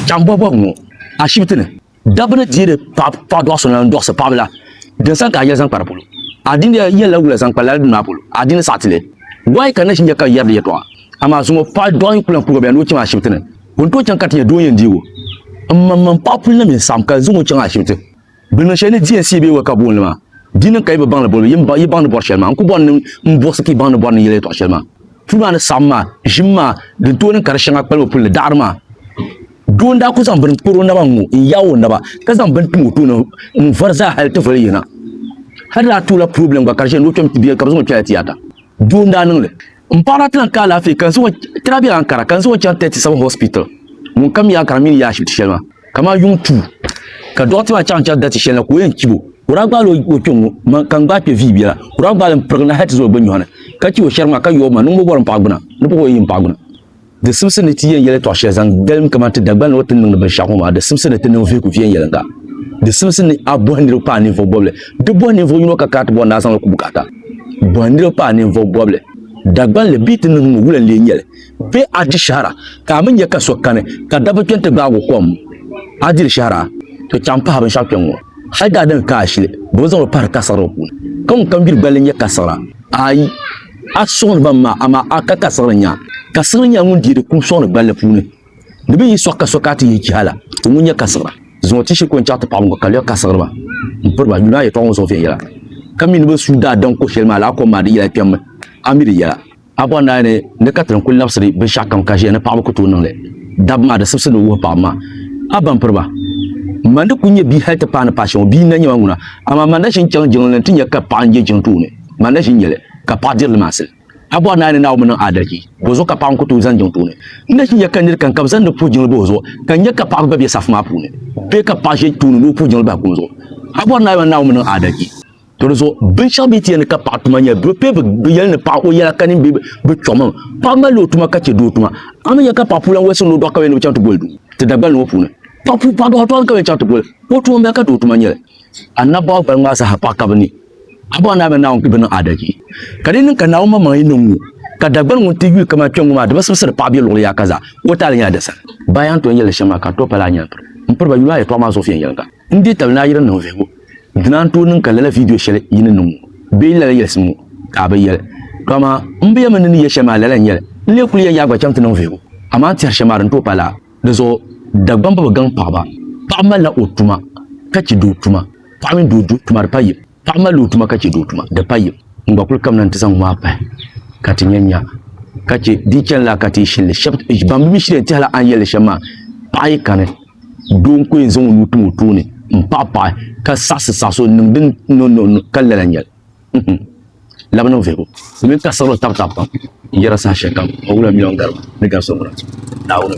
Chaŋ bɔhibɔhi ŋɔ ashibiti ni. Dabba ni deeri paɣa dɔɣu so n-lan dɔɣisi paɣiba la, din sani ka a yɛli zaŋ kpa di polo. A dini yɛn la wula zaŋ kpa lala dini maa polo? A dini saɣiti li? Why ka nachiinja ka yɛri di yɛtɔɣa? Amaa zuŋɔ paɣa dɔɣu n-kuli lan kurigu bɛ ni o chaŋ ashibiti ni. Bɛ ni tooi chaŋ ka ti nya doo n-yɛn deeg o. M ma m-mani paɣa puli na mi n-saɣim ka zuŋɔ chaŋ ashibiti. Bɛ niŋ shɛli ni di yɛn siya bee wala ka bɛ booni li maa? Di niŋ ka yi bi baŋ li boli mi, yi baŋ ni bɔri shɛli maa. N ku bɔri ni n buɣisi ka yi baŋ ni bɔri ni yɛli yɛltɔɣ shɛli maa. Puli maa ni saɣim maa, ʒim maa, din tooi niŋ ka di shɛŋa kpalim o puli li daɣiri maa. Doo n-daa ku zaŋ bini kpar o naba ŋ-ŋɔ n-yaai o naba, ka zaŋ bini tim o tooni n-vari zaa hal ti voli yina. Hal di daa toola purɔblɛm gba ka di ʒiya ni o kpɛm ti bɛ yɛli ka bɛ zaŋ o kpɛla tiyaata. Doo n-daa niŋ li. M paɣaba ti lahi ka alaafee ka n zaŋ o ti lahi be Ankara ka n zaŋ o chaŋ 37 Hospital ŋun ka mi Ankara mini yaɣa ashibiti shɛli maa kamani yuŋ tuu ka dɔɣite maa chaŋ chaŋ dariti shɛli na ka o yɛn chib o o daa gbaala o kpɛ ŋ-ŋɔ man ka n gbaai kpɛ vii biɛla o daa gbaali m pirigi na hal ti za o gbinyɔɣu ni ka chib o shɛriga maa ka yooi ma niŋ m bo bɔri m paɣa gbuna ni pɔbɔyi m paɣa gbuna. Di simsi ni ti yɛn yɛlitɔɣ shɛli zaŋ dalim kaman ti Dagbani o ti niŋdi binshɛɣu ŋɔ maa, di simsi ni ti niŋ vihigu viɛnyɛliŋga. Di simsi ni a bɔhi niriba paai ninvuɣ bɔbili. Di bɔhi ninvuɣ yino ka kana ti bɔri ni a zaŋ li ku bukaata. Bɔhi niriba paai ninvuɣ bɔbili. Dagbani li bee ti niŋ ŋɔ wula n-lee nyɛli? Bee a di shɛhira ka a mi nya ka so kani ka dabba kpɛni ti gbaag o kom? A diri shɛhira? To chaŋ pahi binshɛɣu kpɛŋ ŋɔ. Hal daadam ka a shili, bɛ bi zaŋ li pahiri kasiɣira puuni. Ka ŋun kam gbiri gballi nya kasiɣira? Aai! A suɣindi ba m-ma, amaa a ka ka siɣiri nya. Ka siɣiri nyɛla ŋun deei di kum suɣindi gballi puuni. Di bi yi sɔɣi ka so ka a ti yihi chihala, ti ŋun nya ka siɣira. Zuŋɔ ti shiri ka o ni chaɣi ti paɣiba ŋɔ ka lɛɣ ka siɣiri ba m-piri ba. Yuli a yɛtɔɣa ŋɔ zuɣu viɛnyɛla, ka mi ni bɛ suui daa daŋ ko shɛli maa la, a kom maa di yila a kpɛmmi, a mi di yɛla. A bɔri naa ni ni ka ti ni kul labisiri binshɛɣu kam ka ʒiya ni paɣiba ku tooi niŋ li dabba maa, di sibisi ni o wuhi paɣiba maa, A ba m-piri ba. M ma ni kul nyɛ bia hal ti paai ni paai shɛŋa ŋɔ, bia n-na nyɛ ma ŋuna, amaa ma ni daa shiri n-chaŋ jiŋli ni nti nya ka paɣa n-je jiŋ tooni. Ŋmanila ʒi n-nyɛli ka paɣa diri limaasili. A bɔri naa ni Naawuni niŋ aadalichi, bɔzuɣu ka paɣa ŋun ku tooi zani jiŋ puuni? N ni ʒi n-nyɛ ka nir kam ka bɛ zaŋ ni puhi jiŋli bahi o zuɣu, ka nya ka paɣaba gba be safu maa puuni, bee ka paɣa ʒe tooni ni o puhi jiŋli bahi kum zuɣu? A bɔri naa yɔn Naawuni niŋ aadalichi. To di zuɣu, binshɛɣu bee tiyani ka paɣa tuma nyɛli bɛ pee bɛ yɛli ni paɣa o yɛla ka nini bee bɛ chɔɣimam. Paɣa malila o tuma ka chɛ doo tuma. A mi nya ka paɣa puu lan walisiri ni o dɔɣi kaweya ni bɛ chaŋ ti goli duu ti Dagbani ŋɔ puuni. Paɣa puu paɣa dɔɣi tɔɣili kaweya chaŋ ti goli o tuma m-bala ka doo tuma nyɛli. Annabawa baliŋ maa zaa ha paɣa ka bɛ ni. A bɔŋɔ Naayinba Naawuni kpi bi niŋ aadalchi, ka di yi niŋ ka Naawuni maŋmaŋ yi niŋ ŋu, ka Dagbani ŋun ti yuui kaman kpɛŋ ŋu maa di bi simsiri paɣa be luɣili yaaka zaa, ka o taali nyɛla di sani. Ba yaa n tooi yɛli shɛm maa ka n tooi pali a nyɛlipiri m piri ba yuli a yɛtɔɣa maa zuɣu viɛnyɛliŋga. N deei tabili ni a yi di niŋ vihigu, dina n tooi niŋ ka lala viidiyo shɛli yi ni niŋ ŋu bee lala yɛlisim ŋu ka a bi yɛli. To amaa m bi yɛm n ni ni yɛ shɛli maa lala n-nyɛli, n lee kuli yɛn yaai gba chaŋ ti niŋ vihigu, amaa n tɛhiri shɛm maa di ni tooi pali a. Di zuɣu Dagbamba bi gaŋ paɣaba. Paɣa malila o tuma ka che doo tuma. Paɣa mini doo du tuma di pa yim. Paɣa malila o tuma ka che doo tuma di pa yim. N gba kuli kamina nti zaŋ ŋmaa pahi ka ti nya nya ka che di yi chani laa ka ti yi shini li. Shɛb ban bi mi shili yɛn tɛhi la a ni yɛli li shɛm maa. Paɣa yi kani doo n-ko yɛn zaŋ o nuu tim o tooni m-paɣipaɣi ka saɣisi saɣisi o n-niŋ din no no no ka lala nyɛl. labina o vihigu domin ka siɣiri o tabi tabi pam n yɛra saha shɛli kam o wula miliyon garibu ni gari so ŋuna naawuni